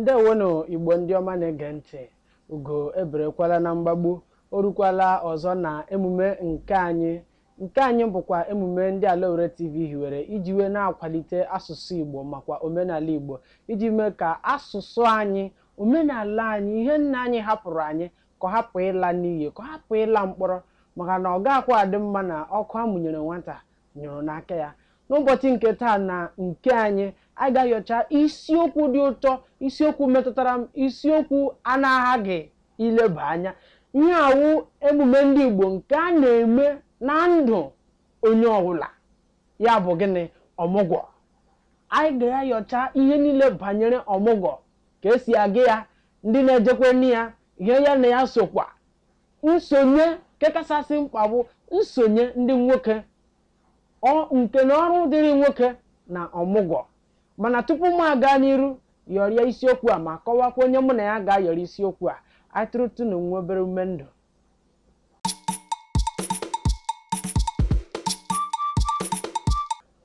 ndewonụ igbo ndị ọma na-ege ntị ugo eberekwala na mgbagbu o rukwala ọzọ na emume nke anyị nke anyị bụkwa emume ndị alaowere tv hiwere iji wee na-akwalite asụsụ igbo makwa omenala igbo iji mee ka asụsụ anyị omenala anyị ihe nna anyị hapụrụ anyị ka ọ hapụ ịla n'iyi ka ọ hapụ ịla mkpọrọ maka na ọ gaghịkwa adị mma na ọkụ a mụnyere nwata nyụrụ n'aka ya n'ụbọchị nke taa na nke anyị anyị ga-ayọcha isiokwu dị ụtọ isiokwu metụtara m isiokwu a na-aghaghị ileba anya ihe a wụ emume ndị Igbo nke a na-eme na ndụ onye ọbụla ya bụ gịnị ọmụgwọ anyị ga-ayọcha ihe niile banyere ọmụgwọ ka esi aga ya ndị na-ejekwanụ ya ihe ya na ya sokwa nsonye nke kachasị mkpa bụ nsonye ndị nwoke nke na ọrụ dịrị nwoke na ọmụgwọ mana tupu m aga n'iru yọrịa isiokwu a ma kọwakwa onye mụ na ya ga-ayọrọ isiokwu a anyị tụrụtụnụ nwa obere ume ndụ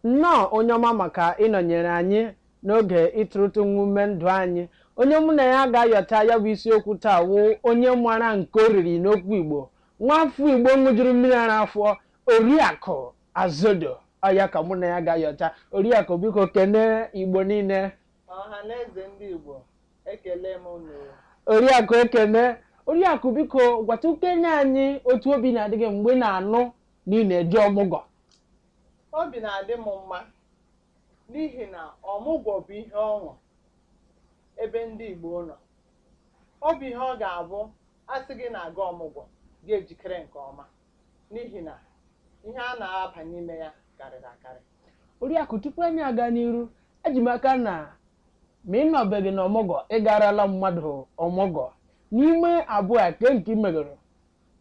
Nnọọ onye ọma maka ịnọnyere anyị n'oge ịtụrụtụ nwa ume ndụ anyị. Onye mụ na ya ga-ayọta ya bụ isiokwu taa wụ onye mara nke o riri n'okwu Igbo. Nwafọ Igbo ṅụjuru mmiri ara afọ, Oriakụ Azodo. Ọ ya ka mụ na ya ga-ayọta. Oriakụ biko kenee Igbo niile. Ọha na eze ndị Igbo, ekele m unu. Oriakụ Ekene, Oriakụ biko gwatụkene anyị otu obi na-adị gị mgbe ị na-anụ na ị na-eje ọmụgwọ. Obi na-adị m mma n'ihi na ọmụgwọ bụ ihe ọṅụ ebe ndị Igbo nọ. Ọ bụ ihe ọ ga-abụ a sị gị na-aga ọmụgwọ, gị ejikere nke ọma n'ihi na ihe a na-aba n'ime ya karịrị akarị. Oriakụ, tupu anyị aga n'iru, eji m aka na ma ị nọbeghị n'ọmụgwọ, ị garala mmadụ ọmụgwọ. N'ime abụọ a, kee nke ị megoro?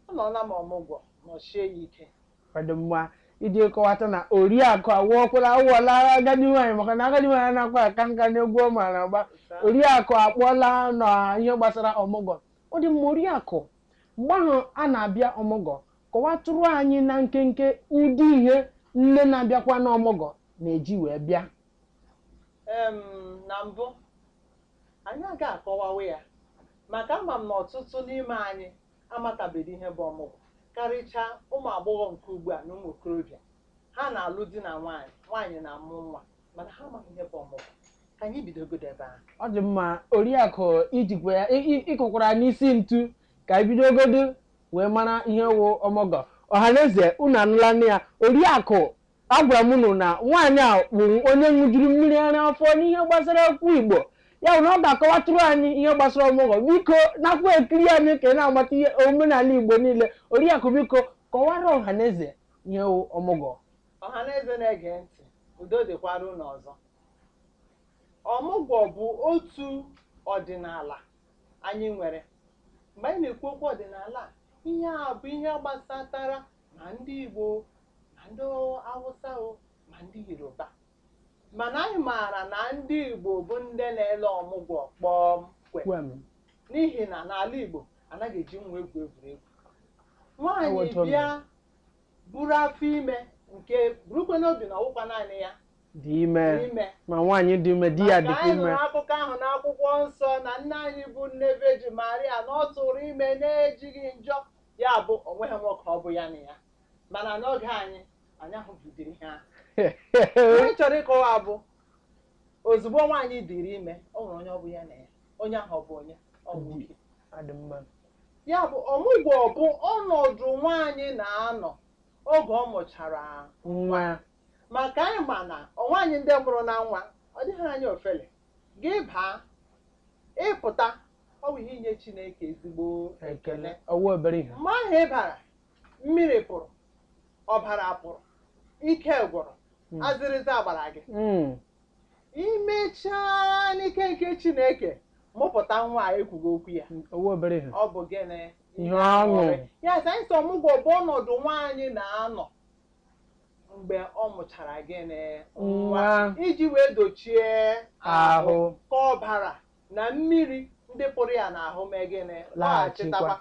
Anọọla m ọmụgwọ nọsie ya ike. ọ dị mma iji kọwata na oriakụ awụọkwala awụọla agadi nwaanyị maka na agadi nwaanyị anaghịkwa aka nka n'egwu ọ maara agba oriakụ akpọọla na ihe gbasara ọmụgwọ ọ dị mma oriakụ mgbe ahụ a na-abịa ọmụgwọ kọwatụrụ anyị na nkenke ụdị ihe nne na-abịakwa n'ọmụgwọ na-eji wee bịa em na mbụ anyị aga akọwawa ya maka ama m na ọtụtụ n'ime anyị amatabedị ihe bụ ọmụgwọ, karịchaa ụmụ agbọghọ nke ugbu a na ụmụ okorobịa. Ha na-alụ di na nwaanyị, nwaanyị na-amụ nwa, mana ha amaghị ihe bụ ọmụgwọ. Ka anyị bidogodo ebe ahụ. ọ dị mma oriakụ i jikwa ya ị- ị- ị kụkwara ya n'isi ntu ka anyị bidogodu wee mara ihe wụ ọmụgwọ ọhaneze unu anụlanụ ya oriakụ Agwara m unu na nwaanyị a bụ onye ṅụjuru mmiri ara afọ n'ihe gbasara okwu Igbo ya bụ na ọ ga-akọwatụrụ anyị ihe gbasara ọmụgwọ biko nakwa ekiri anyị ka ị na-amata ihe omenala Igbo niile oriakụ biko kọwara ọha na eze ihe wụ ọmụgwọ ọha na eze na-ege ntị udo dịkwara unu ọzọ ọmụgwọ bụ otu ọdịnala anyị nwere mgbe anyị na-ekwu okwu ọdịnala a, ihe a bụ ihe gbasatara ma ndị Igbo ma ndị Awụsa o ma ndị Yoruba mana anyị maara na ndị Igbo bụ ndị na-ele ọmụgwọ kpọm kwem n'ihi na n'ala Igbo anaghị eji nwa egwu egwuregwu nwaanyị bịa buru afọ ime nke burukwe n'obi na ọwụkwa naanị ya dị ime ma nwaanyị dị ime di ya dịkwa ime maka anyị nụrụ akụkọ ahụ n'akwụkwọ nsọ na nne anyị bụ nne veji maria na ọ tụrụ ime na-ejighị njọ ya bụ o nweghị nwoke ọ bụ ya na ya mana n'oge anyị anyị ahụbeghị ụdịrị ihe ahụ ihe m chọrọ ịkọwa bụ ozugbo nwaanyị dịrị ime o nwere onye ọ bụ ya na ya onye ahụ ọ bụ onye ọ bụ nwoke ọ dị mma ya bụ ọmụgwọ bụ ọnọdụ nwaanyị na-anọ oge ọ mụchara nwa maka anyị ma na ụmụ nwaanyị ndị mụrụ na nwa ọ dịghị anyị ofele gị baa ị pụta ọ bụ ihe inye Chineke ezigbo ekele ọwụ obere ihe mgbe ahụ ị bara Mmiri pụrụ, ọbara pụrụ, ike gwụrụ, Mm. azịrịza gbara gị. Mm. Imechaa n'ike nke Chineke mụpụta nwa a ekwughị okwu ya. ọwụ obere ihe Ọ bụ gịnị? ihe ọṅụ Ya sị anyị sị ọmụgwọ bụ ọnọdụ nwaanyị na-anọ mgbe ọ mụchara gịnị nwa iji wee dochie ahụ ka ọbara na mmiri ndị pụrụ ya n'ahụ mee gịnị Laghachitakwa. laghachitakwa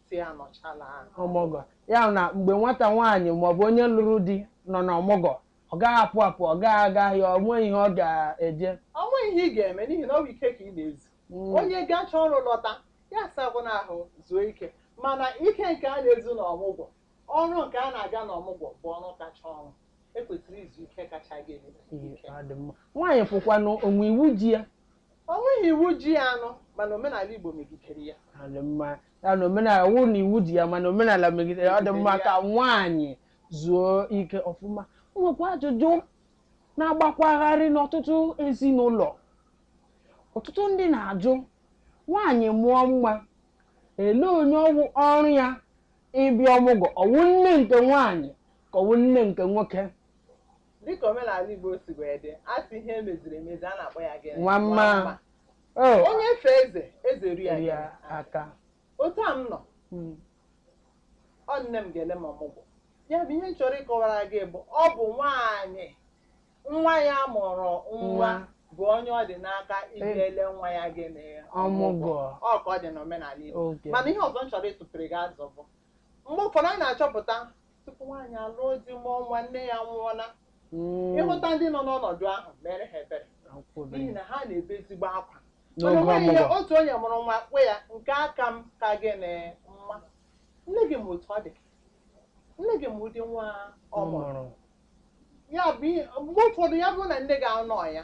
sị ya nọchala ọmụgwọ ya bụ na mgbe nwata nwaanyị maọbụ onye lụrụ di nọ n'ọmụgwọ ọ gaghị apụ apụ ọ gaghị aga ahịa ọ nweghị ihe ọ ga-eje Ọ nweghị ihe ị ga-eme n'ihi na ọ bụ ike ka ị na-ezu. Mm. Onye gacha ọrụ lọta ya sakwanụ ahụ zuo ike mana ike nke a na-ezu n'ọmụgwọ ọrụ nke a na-abịa n'ọmụgwọ bụ ọrụ kacha ọrụ e kwesịrị izu ike kacha gị ike. Ọ dị mma. nwaanyị pụkwanụ o nwe iwu ji ya O nweghị iwu ji ya nụ mana omenala Igbo megidere ya. Ọ dị mma ya na omenala ọ wụghị na iwu ji ya mana omenala megidere ya, ọ dị mma Megidere ka nwaanyị zuo ike ọfụma o nwekwa ajụjụ na-agbakwagharị n'ọtụtụ ezinụlọ ọtụtụ ndị na-ajụ nwaanyị mụọ nwa ele onye ọwụ ọrụ ya ịbịa ọmụgwọ ọwụ nne nke nwaanyị ka ọwụ nne nke nwoke Dịka omenala Igbo si wee dị, a sị ihe emeziri emezi, a na-akpọ ya gịnị? Nwa mma. Oh, Onye fee eze, eze eru ya eru gịnị? ya aka. Otu a m nọ, Mm. ọ nne m ga-ele m ọmụgwọ. Ya bụ ihe m chọrọ ịkọwara gị bụ ọ bụ nwaanyị nwa ya mụrụ nwa Nwa. bụ onye ọ dị n'aka ilele nwa ya gịnị Ọmụgwọ. ọ ka ọ dị n'omenala Igbo Oge. mana ihe ọzọ m chọrọ ịtụpere gị azụ bụ mgbe ụfọdụ anyị na-achọpụta tupu nwaanyị alụọ di mụọ nwa nne ya nwụọla hmm. ịhụta ndị nọ n'ọnọdụ ahụ meere ha ebere n'ihi na ha na-ebe ezigbo akwa mana nwaanyị ya otu onye mụrụ nwa kwe ya nke aka m ka gịnị mma nne gị ma otu ọ dị nne gị ma ụdị nwa ọ mụrụ ya bụ mgbe ụfọdụ ya bụrụ na nne gị anọghị ya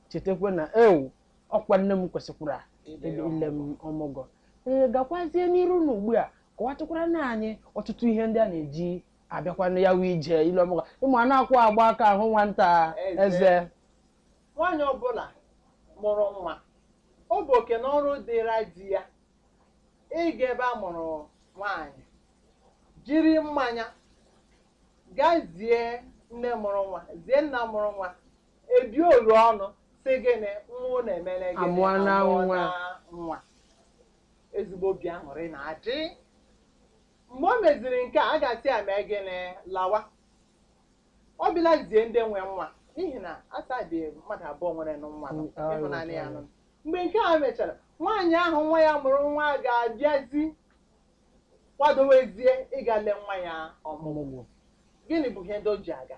chetakwa na ewo ọkwa nne m kwesịkwara Ile ile ile m ọmụgwọ ee gakwazie n'iru na ugbu a kọwatụkwaranụ anyị ọtụtụ ihe ndị a na-eji abịakwanụ ya bụ ije ile ọmụgwọ ị ma anakwaghị agba aka ahụ nwata Eze. eze nwaanyị ọbụla mụrụ nwa ọ bụ oke na ọrụ dịra di ya ịga ebe a mụrụ nwaanyị jiri mmanya gaa zie nne mụrụ nwa zie nna mụrụ nwa ebi oro ọnụ sị gịnị nwa unu emere gịnị Amụọna amụọ nwa. nwa ezigbo obi aṅụrị na-adị mgbe o meziri nke a a ga-asị ya mee gịnị lawa ọ bịala zie ndị nwe nwa n'ihi na a sị a dị mmadụ abụọ nwere nụ nwa nọ, Mm, ịhụnanya ya nọ. mgbe nke a mechara nwaanyị ahụ nwa ya mụrụ nwa ga-abịazi kwadowezie ịga lee nwa ya ọmụgwọ ọmụgwọ gịnị bụ ihe ndị o ji aga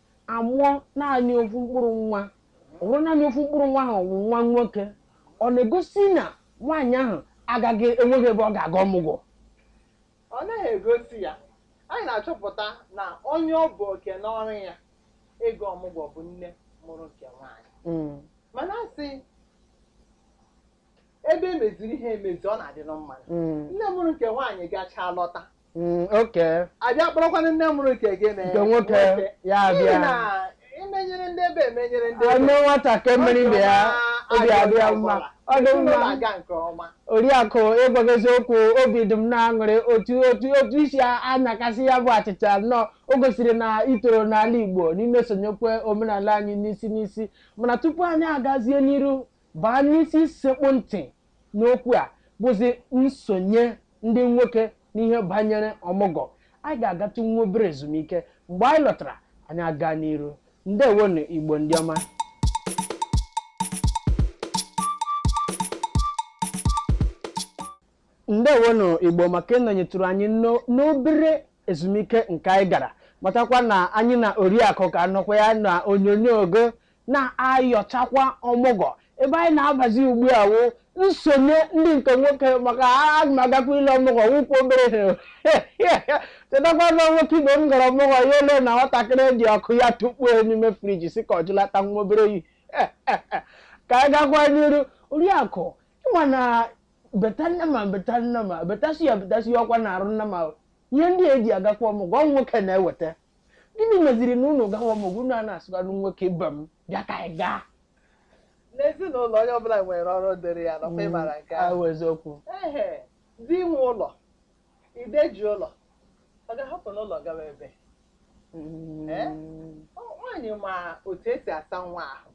amụọ naanị ofu mkpụrụ nwa ọ bụrụ naanị ofu mkpụrụ nwa ahụ bụ nwa nwoke ọ na-egosi na nwaanyị ahụ agaghị enweghị ebe ọ ga-aga ọmụgwọ ọ naghị egosi ya anyị na-achọpụta na onye ọ bụ oke na ọrụ ya ịga ọmụgwọ bụ nne mụrụ nke nwaanyị Mm. mana a sị ebe e meziri ihe emezi ọ na-adịnụ mma Mm. nne mụrụ nke nwaanyị gachaa lọta Mm, oke a bịa kpọrọkwanụ nne mụrụ nke gịnị nke nwoke ya N'ihi abịa na e menyere ndị ebe emenyere ndị ebe. e mee nwata ka e mere ibe ya obi adị ya mma ọ dị Ezinụlọ mma aga nke ọma oriakụ ịgwa gị eziokwu obi dị m n'aṅụrị otu otu otu i si anyakasị ya bụ achịcha nnọọ o gosiri na i toro n'ala igbo n'ime sonyekwa omenala anyị n'isi n'isi mana tupu anyị agazie n'iru baa n'isi sekpụ ntị n'okwu a bụzi nsonye ndị nwoke n'ihe banyere ọmụgwọ anyị ga-agatụ nwa obere ezumike mgbe anyị lọtara anyị aga n'iru ndewonu igbo ndị ọma ndewonu igbo maka ịnọnyetụrụ anyị n'o- n'obere ezumike nke anyị gara matakwa na anyị na oriakụ ka nọkwa ya na onyonyo ogo na-ayọchakwa ọmụgwọ ebe anyị na-abazi ugbu a wụ nsonye ndị nke nwoke maka aga m agakwa ile ọmụgwọ wụkwa obere ihe chetakwa na nwoke ibe m gara ọmụgwọ ya elee na nwatakịrị dị ọkụ ya tukpuo n'ime friji sị ka ọ jụlata nwa obere oyi ka anyị gakwa n'iru oriakụ ịma na beta nnama beta nnama betasi ya betasi ya ọkwa na-arụ nnama ihe ndị eji agakwa ọmụgwọ ọ nwoke na-eweta gịnị meziri na unu gawa ọmụgwọ unu a na-asịkwanụ nwoke ibe m bịa ka anyị gaa n'ezinụlọ onye ọbụla nwere ọrụ dịrị ya ọkwa ịmara nke ahụ ahụ eziokwu ehe di nwe ụlọ ide ji ụlọ ọ ga-ahapụnụ ụlọ gawa ebee Mm. Eh? Ọ- nwaanyị ma otu esi asa nwa ahụ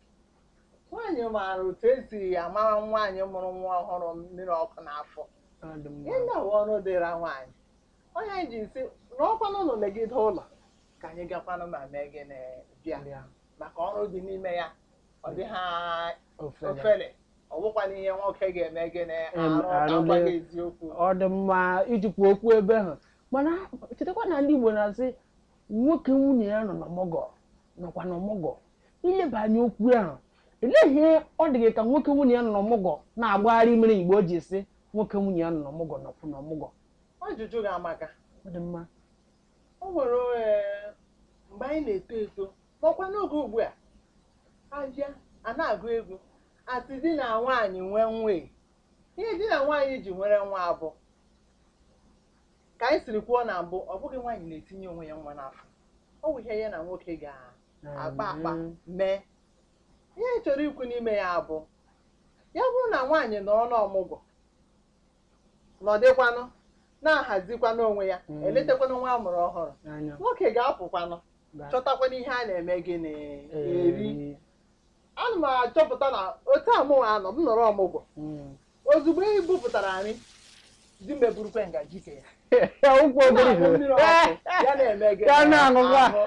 nwaanyị maara otu esi amara nwaanyị mụrụ nwa ọhụrụ mmiri ọkụ n'afọ Ọ dị mma. ihe na-awụ ọrụ dịra nwaanyị ọ ya anyị ji sị nọkwanụ ụlọ legide ụlọ ka anyị gakwanụ ma mee gịnị bịa maka ọrụ dị n'ime ya ọ dị ha ofele ọ bụkwana ihe nwoke ga-eme gịnị arụ agwa gị eziokwu ọ dị mma ijikwa okwu ebe ahụ mana chetakwa na ndị Igbo na-asị nwoke nwunye ya nọ n'ọmụgwọ nọkwa n'ọmụgwọ ileba anya okwu ahụ elee ihe ọ dị gị ka nwoke nwunye ya nọ n'ọmụgwọ na-agbagharị mere Igbo ji sị nwoke nwunye ya nọ n'ọmụgwọ nọkwa n'ọmụgwọ Ajụjụ gị amaka. Ọ dị mma. O nwere eh, mgbe anyị na-eto eto makwa n'oge ugbu a abịa a na-agụ egwu asị di na nwaanyị nwe nwa e. ihe di na nwaanyị ji nwere nwa bụ ka anyị siri kwuo na mbụ ọ bụghị nwaanyị na-etinye onwe ya nwa n'afọ ọ bụ ihe ya na nwoke ga-akpa akpa Mm. mee ihe anyị chọrọ ikwu n'ime ya bụ ya bụrụ na nwaanyị nọ n'ọmụgwọ nọdịkwanụ na-ahazikwanụ onwe ya Mm. eletakwanụ nwa a mụrụ ọhụrụ anya nwoke ga-apụkwanụ ga- chọtakwanụ ihe a na-eme gịnị eri eri. ana m achọpụta na otu a mụnwa anọ m nọrọ ọmụgwọ Mm. ozugbo e bupụtara nri di m eburukwe ngaji ke ya ukwu Ọ obere na-aṅụ mmiri ihe ọkụ, ya na-eme gịnị? Ya na-aṅụkwa. Ahụ.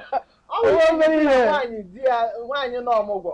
Ọ bụrụ Obere ihe. nwaanyị di ya nwaanyị nọ ọmụgwọ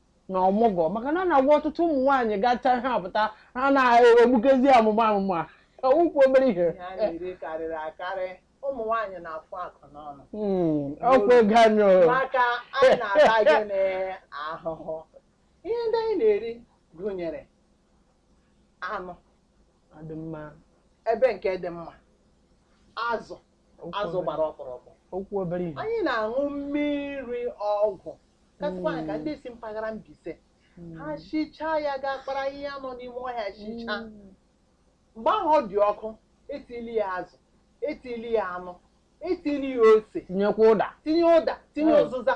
na ọmụgwọ maka na a na-agwa ọtụtụ ụmụ nwaanyị gacha ha apụta ha na-egbukezi amụma amụma ọ wụkwu obere ihe ihe a na-eri karịrị akarị ụmụ nwaanyị na-afụ akụ n'ọnụ Mm, ọkwa ego anyị o. maka anyị na-ata gịnị ahụhụ ihe ndị anyị na-eri gụnyere anụ Ọ dị mma ebe nke dị mma azụ azụ gbara ọkpọrọkpọ okwu obere ihe anyị na-aṅụ mmiri ọgwụ kasịkwa anyị ka ndị si mpaghara Mbaise ha sichaa ya gaa kpara ihe a nọ n'ime ọhịa sichaa mgbe ahụ ọ dị ọkụ etili ya azụ etili ya anụ etili ya ose tinyekwa ụda tinye ụda tinye Mm. ụzịza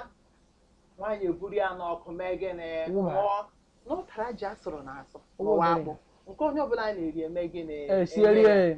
nwaanyị eburu ya n'ọkụ mee gịnị Ṅụba. ṅụọ n'ụtara ji asụrụ na asụ Wụba. ma ọ wụ akpụ nke onye ọbụla na-eri eme gịnị esiere Eme. ya.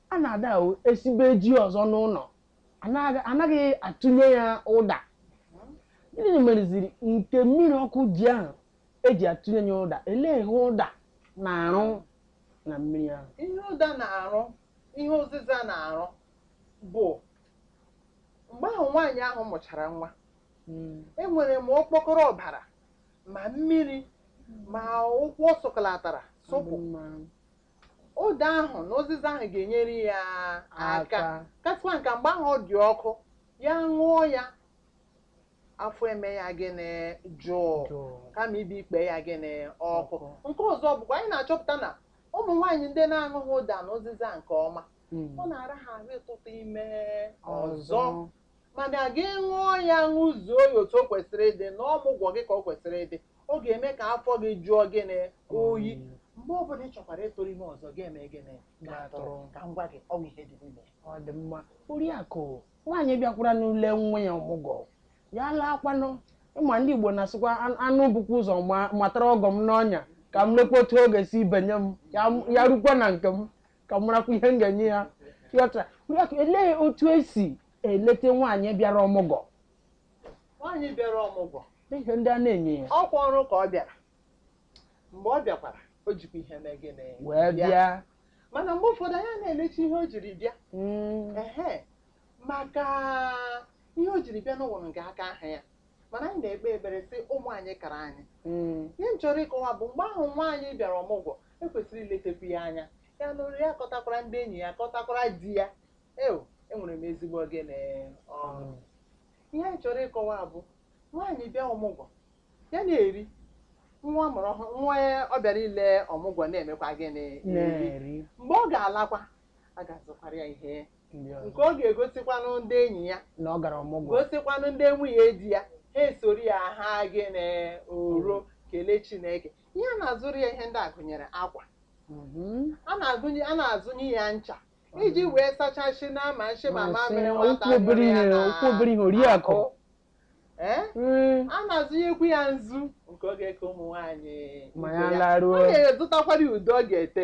A na-ada o esibe ji ọzọ n'ụlọ, a na- a naghị atụnye ya ụda. Gịnị mereziri nke mmiri ọkụ ji ahụ eji atụnye ya ụda? Elee ihe ụda na-arụ na mmiri ahụ? ihe ụda na-arụ ihe ụzịza na-arụ bụ mgbe ahụ nwaanyị ahụ mụchara nwa enwere ma okpokoro ọbara ma mmiri ma ụkwụ ọ sụkọlatara sụpụ Ụda ahụ na ụzịza ahụ ga-enyere ya aka. Kasịkwanụ ka, mgbe ahụ ọ dị ọkụ, ya ṅụọ ya, afọ eme ya gịnị jụụ Jụụ. kama ibi ikpe ya gịnị ọkụ. Ọkụ. Nke ọzọ bụkwa anyị na-achọpụta na ụmụ nwaanyị ndị na-aṅụghị ụda na ụzịza nke ọma, Mm. ọ na-ara ha ahụ ịtụtụ ime ọzọ. Ọzọ. mana gị ṅụọ ya ṅụzuo ya otu o kwesịrị ịdị na ọmụgwọ gị ka o kwesịrị ịdị ọ ga-eme ka afọ gị jụọ gịnị oyi mgbe ọbụla ị chọkwara ịtụrụ ime ọzọ ga-eme gịnị ga-atụrụ ka m gwa gị ọ wụ ihe dị n'ime ya. ọ dị mma oriakụ nwaanyị bịakwaranụ ile nwa ya ọmụgwọ ya laakwanụ ị ma ndị Igbo na-asịkwa "An- anụ bukwa ụzọ ma- matara ọgọ m n'ọnya ka m lekwa otu ọ ga-esi benye m ya- ya rukwa na nke m ka m marakwa ihe m ga-enye ya yọta yọta elee otu esi eleta nwaanyị bịara ọmụgwọ nwaanyị bịara ọmụgwọ ihe ndị a na-enye ya ọkwa ọrụ ka ọ bịara mgbe ọ bịakwara o jikwa ihe mee gịnị wee bịa mana mgbe ụfọdụ anyị na-elecha ihe o jiri bịa Mm, ehe maka ihe o jiri bịa na-awụ nga aka ha ya mana anyị na-ekpe ekpere sị ụmụ anyị kara anyị mm. ihe m chọrọ ịkọwa bụ mgbe ahụ nwaanyị bịara ọmụgwọ ekwesịrị iletekwu ya anya ya laruo ya kọtakwara ndị enyi ya kọtakwara di ya eo enwere m ezigbo gịnị ọṅụ mm. ihe anyị chọrọ ịkọwa bụ nwaanyị bịa ọmụgwọ ya na-eri nwa mụrụ ọhụrụ nwa ọ bịara ile ọmụgwọ na-emekwa gịnị eri mgbe ọ ga-alakwa a ga-azụkwara ya ihe nke ọ ga-egosikwanụ ndị enyi ya na ọ gara ọmụgwọ gosikwanụ ndị nwunye di ya ha esoro ya ha gịnị oro kelee chineke ihe a na-azụrụ ya ihe ndị a gụnyere akwa Mhm. a na-agụnye a na-azụnye ya ncha iji wee sachasị na ma nshị ma Ma sị, mamịrị nwata ọwụ obere nyụrụ ya ihe, na ọwụ obere ihe, oriakụ. ahụ. Ee? Mm. a na-azụnyekwu ya nzu nke ọ ga-eke ụmụ nwaanyị Ma ibe ya laruo. a na-azụtakwara ya ude ọ ga-ete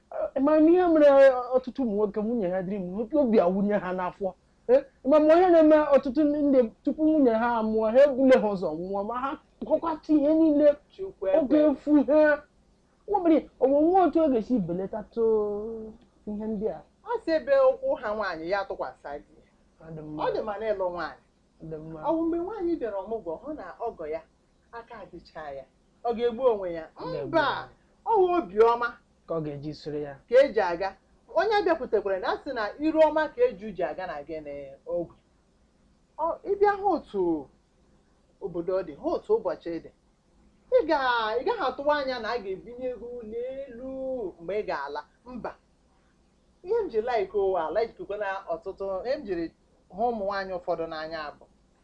ma m ihe mere ọtụtụ ụmụ nwoke nwunye ha dịrị ime obi awụnye ha n'afọ Eh, ama m ihe na-eme ọtụtụ ndị tupu nwunye ha amụọ ha ebule ha ụzọ nwụọ ma ha kọkwata ihe niile Chukwu ọ ga ekwe. efu ha nwabere onwe nwa otu ọ ga-esi belatatụ ihe ndị a ọ sị ebe ụkwụ ha nwaanyị ya tụkwasị di ya. Ọ dị mma, ọ dị mma na ịlụ nwaanyị ọ dị mma. ọwụ mgbe nwaanyị bịara ọmụgwọ hụ na ọgọ ya aka adịchaghị ya ọ ga-egbu onwe ya mba ọwụ obiọma ka ọ ga-eji soro ya ka eji aga onye bịakwutekwara na asị na ire ọma ka eju ji aga na gịnị ogwu ịbịa hụ otu obodo dị hụ otu ụbọchị dị ị gaghị atụwa anya na a ga-ebinye gị ụlọ elu mgbe ị ga-ala mba ihe m ji like ụwa ala ijikwa na ọtụtụ ihe m jiri hụ ụmụ nwaanyị ụfọdụ n'anya bụ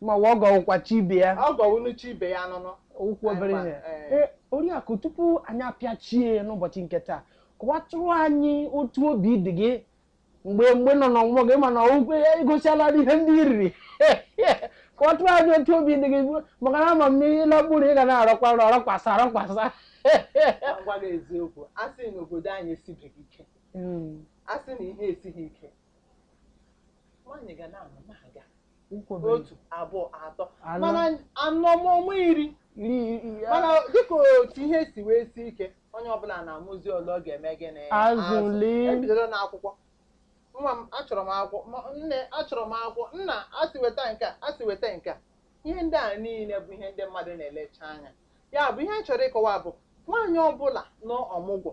ma wa ọgọ wụkwa chi ibe ya ọgọ wụnụ chi ibe ya nụnụ ọwụ obere Anyị ihe ma, eh. Ee, oriakụ tupu anyị apịachie n'ụbọchị nke taa kọwatụrụ anyị otu obi dị gị mgbe mgbe ị nọ n'ọmụgwọ gị mana okwu ya egosiala gị ihe ndị i riri kọwatụrụ anyị otu obi dị gị maka na ama m na ị lakpuru ị ga na-arọkwa nrọ rọkwasa rọkwasa Ka m gwa gị eziokwu a sị na obodo anyị esibeghị ike a sị na ihe esighị ike nwaanyị ga na-amụ na-aga otu abụọ atọ Anọ. mana anọ ma ọnwa iri iri iri ya mana dịka otu ihe si wee si ike onye ọbụla na-amụzi ole ọ ga-eme gịnị Azụli. ebidola n'akwụkwọ nwa m achọrọ m akwụkwọ ma nne achọrọ m akwụkwọ nna asị weta nke a asị weta nke a ihe ndị a niile bụ ihe ndị mmadụ na-elecha anya ya bụ ihe m chọrọ ịkọwa bụ nwaanyị ọbụla nọ ọmụgwọ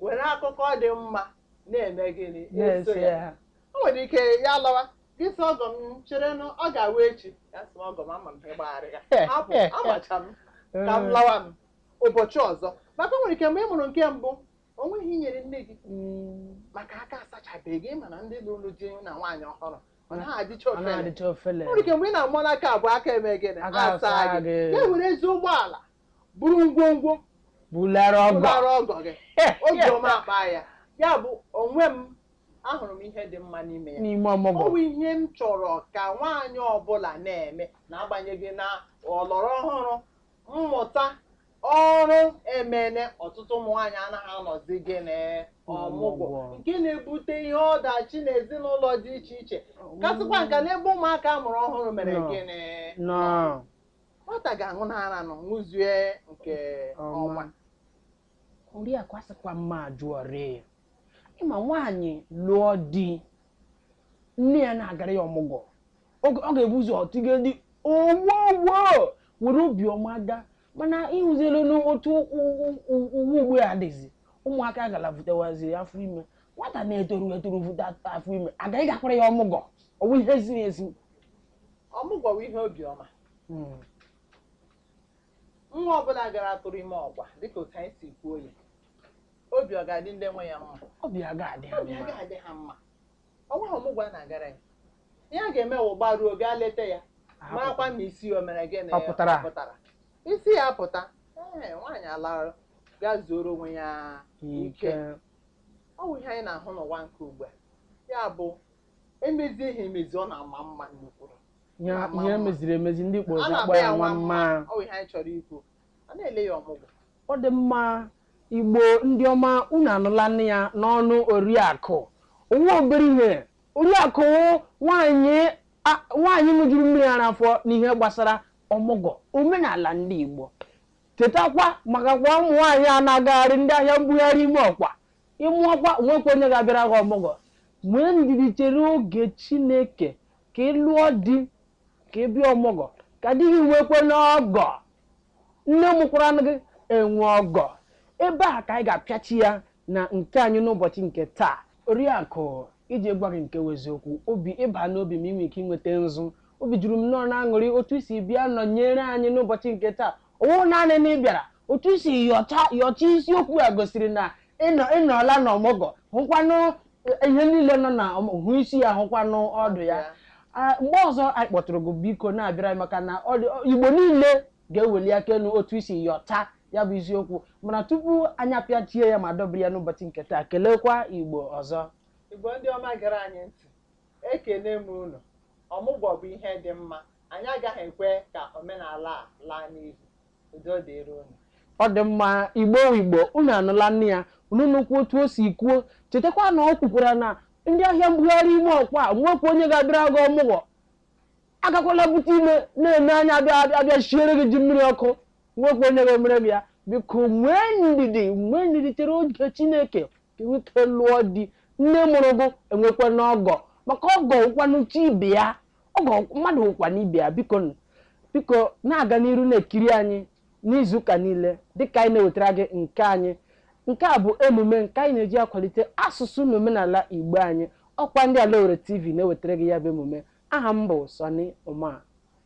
were akụkọ dị mma na-eme gịnị eso N'ezie. ya o nwere ike ya lawa gị sị ọgọ m chere na ọ ga-awụ echi ya sị ọgọ m ama m ihe gbagharị ya hapụ amacha m ka m lawa m ụbọchị ọzọ maka o nwere ike mgbe ị mụrụ nke mbụ o nweghị ihe i nyere nne gị Mm, maka aka asachabeghị ịma na ndị lụrụ di na nwaanyị ọhụrụ ọ naghị adịcha ọ ofele na-adịcha ofele o nwere ike mgbe ị na-amụ nke abụọ aka eme gịnị Aka asa asaa gị gị. ya were ezi ụgbọala buru ngwongwo bulara ọgọ ụlọrụ ọgọ gị Eh, obi yes. ọma akpa ya ya bụ onwe m ahụrụ m ihe dị mma n'ime ya n'ime ọmụgwọ ọ bụ ihe m chọrọ ka nwaanyị ọbụla na-eme n'agbanyeghị na ọlọrọ ọhụrụ mmụta ọrụ emene ọtụtụ ụmụ nwaanyị anaghị anọzi gịnị ọmụgwọ Ọmụgwọ. nke na-ebute ihe ọdachi n'ezinụlọ dị iche iche kasịkwa nka n'ebe ụmụaka a mụrụ ọhụrụ mere Nọ. gịnị nọ nwata ga-aṅụ n'ara nọ ṅụzie nke ọma oriakụ asịkwa mma ajụọrị ya ị ma nwaanyị lụọ di nne ya na-agara ya ọmụgwọ ọ ga- ọ ga-ebu ụzọ tiga di owowo were obiọma gaa mana ị hụzielanụ otu u- u- u- ụwa ugbu a dịzi ụmụaka gara vutawazi afọ ime nwata na-etoru etoru vuta afọ ime a ga ịgakwara ya ọmụgwọ ọ bụ ihe ziri ezi ọmụgwọ wụ ihe obiọma hmm. nwa ọbụla gara tụrụ ime ọgwa dịka otu anyị si kwuo ya obi ọ ga-adị ndị nwe ya mma obi a ga-adị ha mma ọ wụghị ọmụgwọ a na-agara ya ihe a ga-eme wụ gbaruo gaa leta ya marakwa na isi o mere gịnị pụtara isi ya pụta ee nwaanyị alarụ gaa zuoro onwe ya ike ọ bụ ihe anyị na-ahụ n'ụwa nke ugbu a ya bụ e mezie ihe emezi ọ na-ama mma nnukwu ihe Ama ihe mma. meziri emezi ndị Igbo akpọ ya a na-akpọ ya nwa mma ọ bụ ihe anyị chọrọ ikwu a na-ele ya ọmụgwọ ọ dị mma igbo ndị ọma unu anụlanụ ya n'ọnụ oriakụ ọ wụghị obere ihe oriakụ nwanyị a- nwanyị ṅụjuru mmiri ara afọ n'ihe gbasara ọmụgwọ omenala ndị igbo chetakwa maka kwa ụmụ nwaanyị a na-agagharị ndị ahịa mbugharị ime ọkwa Ị mụọkwa, o nwekwa onye ga-abịara gị ọmụgwọ. Nwee ndidi chere oge Chineke ka ị lụọ di, ka ị bịa ọmụgwọ, ka di gị nwekwanụ ọgọ. Nne mụkwara gị enwe ọgọ. Ebe a ka anyị ga-apịachi ya na nke anyị n'ụbọchị nke taa. Oriakụ, iji gwa gị nke bụ eziokwu, obi ị baa n'obi m i nwee ike inweta nzu. Obi juru m nnọọ n'aṅụrị otu i si bịa nọnyere anyị n'ụbọchị nke taa. Ọ wụghị naanị na ị bịara otu i si yọcha yọcha isiokwu a gosiri na ị nọ ị nọla na ọmụgwọ hụkwanụ ihe niile nọ na ọmụ- hụ isi ya hụkwanụ ọdụ ya Ah, mgbe ọzọ anyị kpọtụrụ gị biko na-abịara anyị maka na ọ dị- igbo niile ga-eweli aka elu otu i si yọcha ya bụ isiokwu mana tupu anyị apịachie ya ma dọbiri ya n'ụbọchị nke taa kelekwa igbo ọzọ Igbo ndị ọma gere anyị ntị Ekele m unu. Ọmụgwọ bụ ihe dị mma. Anyị agaghị ekwe ka omenala a laa n'iyi. Udo dịrị unu. Ọ dị mma, Igbo wụ Igbo, unu anụla nụ ya, unu nụkwa otu o si kwuo. Chetakwa na ọ kwukwara na ndị ahịa mbugharị ime ọkwa a nwekwa onye ga-abịara gị ọmụgwọ. Agakwala bute ime na-eme anya abịa shiere gị ji mmiri ọkụ. Nwekwa onye ga-emere gị ya. Biko nwee ndidi, nwee ndidi chere oge Chineke. ka i nwee ike lụọ di nne mụrụ gụ enwekwanụ ọgọ maka ọgọ wụkwanụ chi ibe ya ọgọ mmadụ wụkwanụ ibe ya biko nụ, biko na-aga n'iru na-ekiri anyị n'izuụka niile dịka anyị na-ewetara gị nke anyị nke a bụ emume nke anyị na-eji akwalite asụsụ na omenala igbo anyị ọkwa ndị ala owere tv na-ewetara gị ya bụ emume aha m bụ sunny ụma